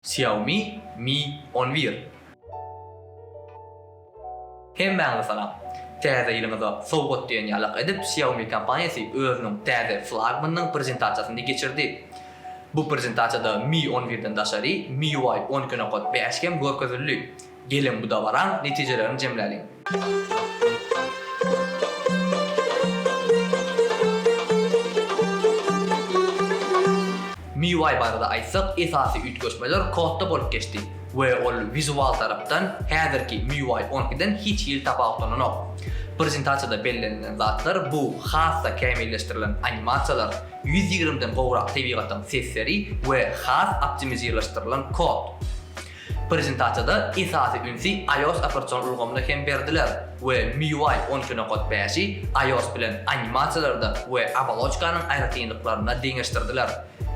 Xiaomi Mi on bir. Hemmäňize salam! Täze ýylyňyza sowgat diýen ýalak edip, Xiaomi kompaniýasy özüniň täze flagmanynyň prezentasiýasyny geçirdi. Bu prezentasiýada Mi on birden daşary, MIUI on iki nokat bäş hem görkezildi. Geliň, bu dabaraň netijelerini jemläliň. MIUI barada aýtsak, esasy üýtgeşmeler kodda bolup geçdi we ol wizual tarapdan häzirki MIUI on iki den hiç hili tapawutlananok. Prezentasiýada bellenilen zatlar bu has-da kämilleşdirilen animasiýalar, ýüz ýigrimi den gowrak tebigatyň sesleri we has optimizirleşdirilen kod. Prezentasiýada esasy ünsi iOS operatsion ulgamyna hem berdiler we MIUI on iki nokat bäşi iOS bilen animasiýalarda we oboloçkanyň aýratynlyklarynda deňeşdirdiler.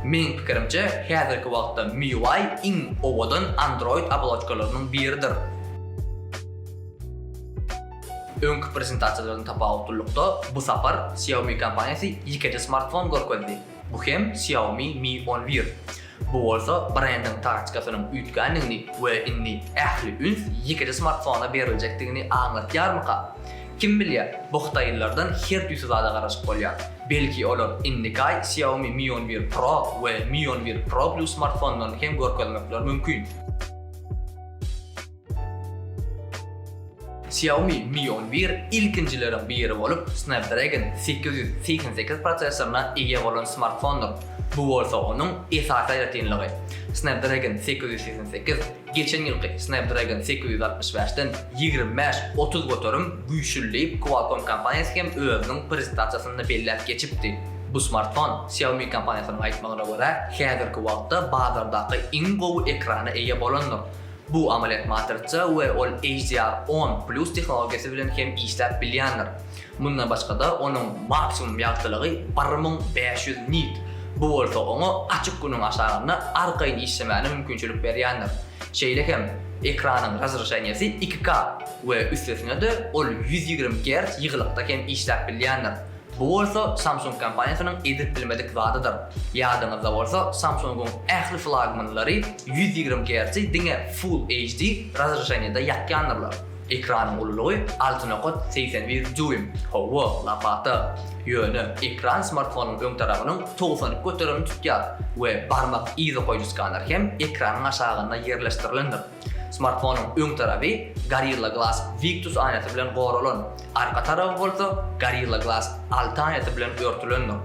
Meniň pikirimçe, häzirki wagtda MIUI iň owadan Android oboloçkalarynyň biridir. Öňki prezentasiýalardan tapawutlylykda, bu sapar Xiaomi kompaniýasy ýekeje smartfon görkezdi, bu hem Xiaomi Mi on bir. Bu bolsa brendiň taktykasynyň üýtgändigini we indi ähli üns ýekije smartfona beriljekdigini aňlatýarmyka? Kim bilýär, bu hytaýlylardan her tüýs zada garaşyp bolýar. Belki olar indikaý Xiaomi Mi on bir Pro we Mi on bir Pro Plus smartfonlaryny hem görkezmekleri mümkin. Xiaomi Mi on bir ilkinjileriň biri bolup, Snapdragon sekiz ýüz segsen sekiz prosessoryna eýe bolan smartfondyr. Bu bolsa onuň esasy aýratynlygy. Snapdragon sekiz ýüz segsen sekiz geçen ýylky Snapdragon sekiz ýüz altmyş bäşden ýigrimi bäş, otuz göterim güýçlüdir diýip, Qualcomm kompaniýasy hem özüniň prezentasiýasynda belläp geçipdi. Bu smartfon, Xiaomi kompaniýasynyň aýtmagyna görä, häzirki wagtda bazardaky iň gowy ekrana eýe bolandyr. Bu amalýat matrisa we ol HDR on plus tehnologiýasy bilen hem işläp bilýändir. Mundan başga-da, onuň maksimum ýagtylygy bir müň bäş ýüz nit, bu bolsa oňa açyk günüň aşagynda arkaýyn işlemäne mümkinçilik berýändir. Şeýle hem, ekranyň razreşeniýesi iki K we üstesine-de ol ýüz ýigrimi gerts ýygylykda hem işläp bilýändir. Bu bolsa Samsung kompaniýasynyň edip bilmedik zadydyr. Ýadyňyzda bolsa, Samsung-yň ähli flagmanlary ýüz ýigrimi gertsi diňe Full HD razreşeniýada ýakýandyrlar. Ekranyň ululygy alty nokat segsen bir dýuým. Hawa, lapata. Ýöne ekran smartfonyň öň tarabynyň togsan iki göterimini tutýar we barmak yzy goýuly skaner hem ekranyň aşagynda ýerleşdirilendir. Smartfonyň öň tarapy Gorilla Glass Victus aýnasy bilen goralan, arka taraby bolsa Gorilla Glass alty aýnasy bilen örtülendir.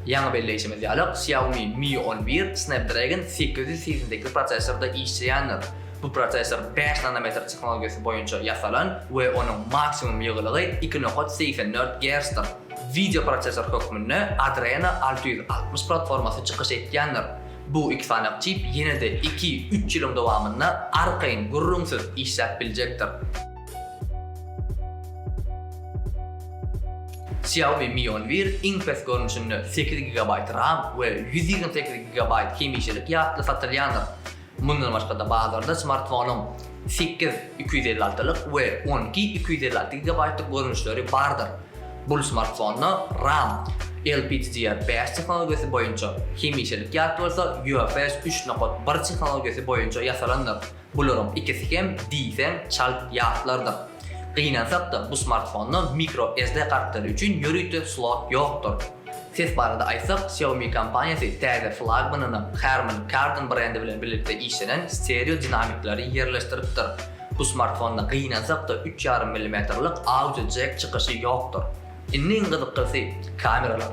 Ýaňy belleýşimiz ýaly, Xiaomi Mi on bir Snapdragon sekiz ýüz segsen sekiz prosessorda işleýändir. Bu prosessor bäş nanometr tehnologiýasy boýunça ýasalan we onuň maksimum ýygylygy iki nokat segsen dört gertsdir. Wideoprosessor hökmünde Adreno alty ýüz altmyş platformasy çykyş etýändir. Bu iki sany çip ýene-de iki, üç ýylyň dowamynda arkaýyn, gürrüňsiz işläp biljekdir. Xiaomi Mi on bir iň pes görnüşinde sekiz gigabaýt ram we ýüz ýigrimi sekiz gigabaýt hemişelik ýatly satylýandyr. Mundan başga-da bazarda smartfonyň sekiz iki ýüz elli altylyk we on iki iki ýüz elli alty gigabaýtlyk görnüşleri bardyr. Bul smartfonda RAM, LPDDR bäş tehnologiýasy boýunça, hemişelik ýat bolsa UFS üç nokat bir tehnologiýasy boýunça ýasalandyr. Bularyň ikisi hem diýseň çalt ýatlardyr. Gynansak-da bu smartfonda mikro SD kartlary üçin ýörite slot ýokdur. Ses barada aýtsak, Xiaomi kompaniýasy täze flagmanyna Harman Kardon brendi bilen birlikde işlenen stereo dinamikleri ýerleşdiripdir. Bu smartfonda gynansak-da üç ýarym millimetrlik audio jack çykyşy ýokdur. Indi iň gyzykysy, kameralar.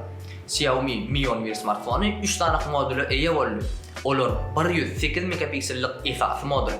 Xiaomi Mi on bir smartfony üç sanyk modula eýe boldy. Olar, bir ýüz sekiz megapiksellik esasy modul,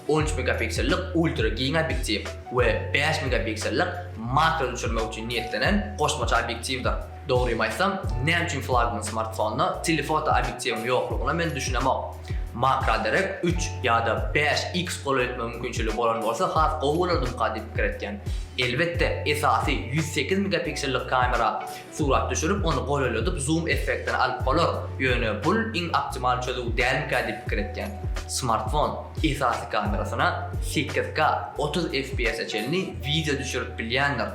on üç megapiksellik ultra giň obýektiw, we bäş megapiksellik makro düşürmek üçin niýetlenen goşmaça obýektiwdir. Dogrymy aýtsam, näme üçin flagman smartfonda telefoto obýektiwiň ýoklugyna men düşünemok. Makroderek üç ýa-da bäş X golaý etme mümkinçiligi bolan bolsa has gowy bolardymyka diýip pikir etýän. Elbetde, esasy ýüz sekiz megapiksellik kamera Surat düşürip, ony golaladyp zoom effektini alyp bolar, ýöne bul iň optimal çözüw dälmikä diýip pikir etýän. Smartfon esasy kamerasyna sekiz K, otuz FPS-e çenli wideo düşürip bilýändir.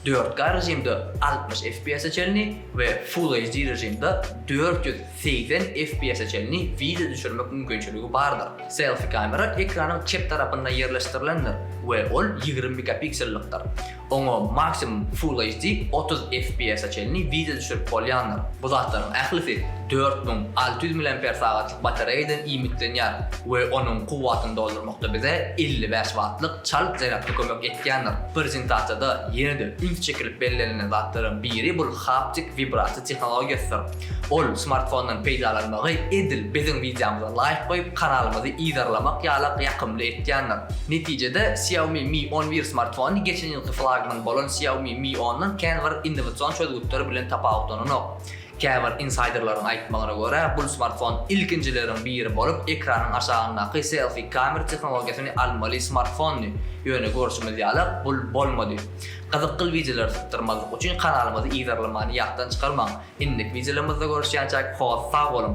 Dört K režimde altmyş FPS-e çenli we Full HD režimde dört ýüz segsen FPS-e çenli wideo düşürmek mümkinçiligi bardyr. Selfi kamera ekranyň çep tarapynda ýerleşdirilendir we ol ýigrimi megapiksellikdir. Oňa maksimum Full HD otuz FPS-a çenli wideo düşürip bolýandyr. Bu zatlaryň ählisi dört müň alty ýüz mAh-lyk batareýadan iýmitlenýär we onuň kuwwatyny doldurmakda bize elli bäş wattlyk çalt zarýadka kömek etýändir. Prezentasiýada ýene-de üns çekilip bellenilen zatlaryň biri bul haptik wibrasiýa tehnologiýasydyr. Ol smartfondan peýdalanmagy edil biziň wideomyza laýk goýup kanalymyzy yzarlamak ýalak ýakymly etýändir. Netijede Xiaomi Mi on bir smartfony geçen ýylky flagman bolan Xiaomi Mi ondan kän bir innowasion çözgütler bilen tapawutlananok. Käbir insaýderleriň aýtmagyna görä bul smartfon ilkinjileriň biri bolup ekranyň aşagyndaky selfi kamer tehnologiýasyny almaly smartfondy ýöne görşümiz ýalak bul bolmady. Gyzykgyl wideolar sypdyrmazlyk üçin kanalymyzy yzarlamany ýatdan çykarmaň. Indiki wideolarymyzda görüşýänçäk hos sag boluň.